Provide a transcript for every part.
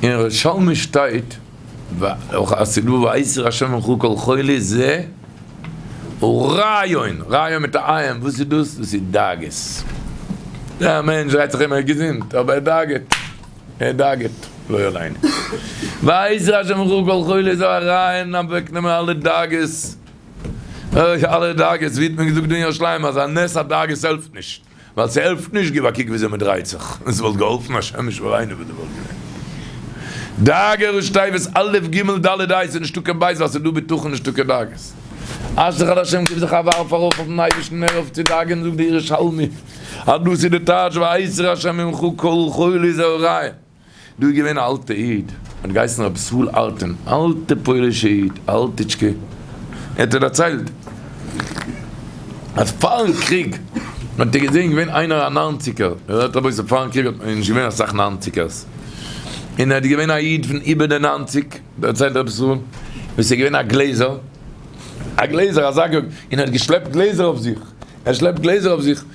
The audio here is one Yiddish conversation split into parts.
אין ירושלמי שטייט וחסידות ואיסור השמן וכו' כל חולי זה הוא רעיון, רעיון מיט א עיין, וואס איז דאס? דאס איז דאגות, דער מענטש דרייט זיך אים ער איז געזונט אבער ער דאגה'ט, ער דאגה'ט לא עלינו, ואיסור השמן וכו' כל חולי זה הוא רעיון אוועק נעמען אלע דאגות, אלע דאגות, ווי האט מען געזאגט דא אין ירושלים אז א נס הדאגות העלפט נישט. ווייל ס'העלפט נישט, גיב א קוק וויאזוי מ'דרייט זיך, און ס'וואלט געהאלפן א שמש וראינו וואס דא וואלט געווען. דאגה ראש תיבות א' ג' ד' ה' איז נישטא קיין בית ווייל ס'איז דא בטחון נישטא קיין דאגות. אשריך אדער השם גיב זיך א ווארף ארויף אויפן אייבערשטן הער אויף צו דאגה'ן זאגט דער ירושלמי אז דאס איז די טייטש והאיסר השם ממך כל חולי זה הרעים. דא איז געווען א אלטע איד האט געהייסן רבי ישראל ארטין אלטע פוילישע איד אלטיטשקע ער האט דערציילט אז פארן קריג האט ער געזעהן געווען איינער א ניינציגער ער זאגט רבותי פארן קריג האט מען נישט געווען אסאך ניינציגערס און ער האט געווען א איד פון איבער די ניינציג דערציילט רבי ישראל וואס איז געווען א גלעזער א גלעזער אזא גאב און ער האט געשלעפט גלעזער אויף זיך ער שלעפט גלעזער אויף זיך.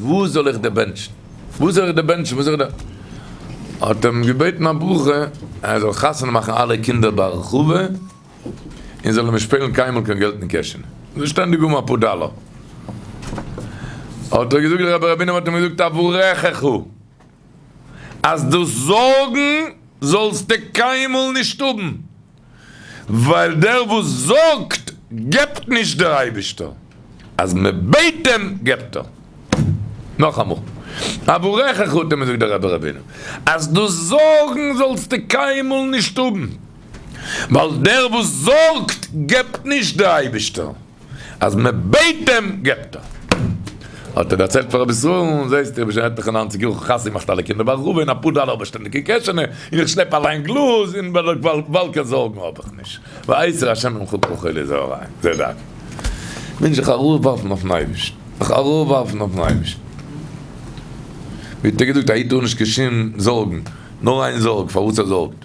וואו זאל איך דיר בענטשן? וואו זאל איך דיר בענטשן? וואו זאל איך דיר. האט ער אים געבעטן א ברכה אז ער זאל חתונה מאכן אלע קינדער בהרחבה, און זאל נישט פעלן קיינמאל קיין געלט אין קעשענע, זאל שטענדיג האבן אפאר דאלאר. האט ער געזאגט דער רבי רבי'ן האט אים געזאגט אברכך, אז דאס זארגן זאלסטו קיינמאל נישט האבן. ווייל דער וואס זארגט געבט נישט דער אייבישטער, אז מען בעט אים געבט ער. נאכאמאל, אברך חטא מזאגט דער רבי רבינו אז דו זארגן זאלסטו קיינמאל נישט האבן, ווייל דער וואס זארגט געבט נישט דער אייבישטער. אז מען בעט אים געבט ער. האט ער דערציילט פאר רבי ישראל, זעסט איך בין שוין עטליכע נײַנציק יאר איך האב חתונה געמאכט אלע קינדער ברוך הוא און אפאר דאלער האב איך שטענדיג אין קעשענע און איך שלעפ אליין גלאז און וואלקע זארגן האב איך נישט ויעזר השם ממך כל חולי זעהריי זע דארט מוז איך ארויפווארפן אויפן אייבערשטן זיך ארויפווארפן אויפן אייבערשטן ווי האט ער געזאגט א איד טאר נישט קיין שום זארגן נאר איין זארג פארוואס ער זארגט.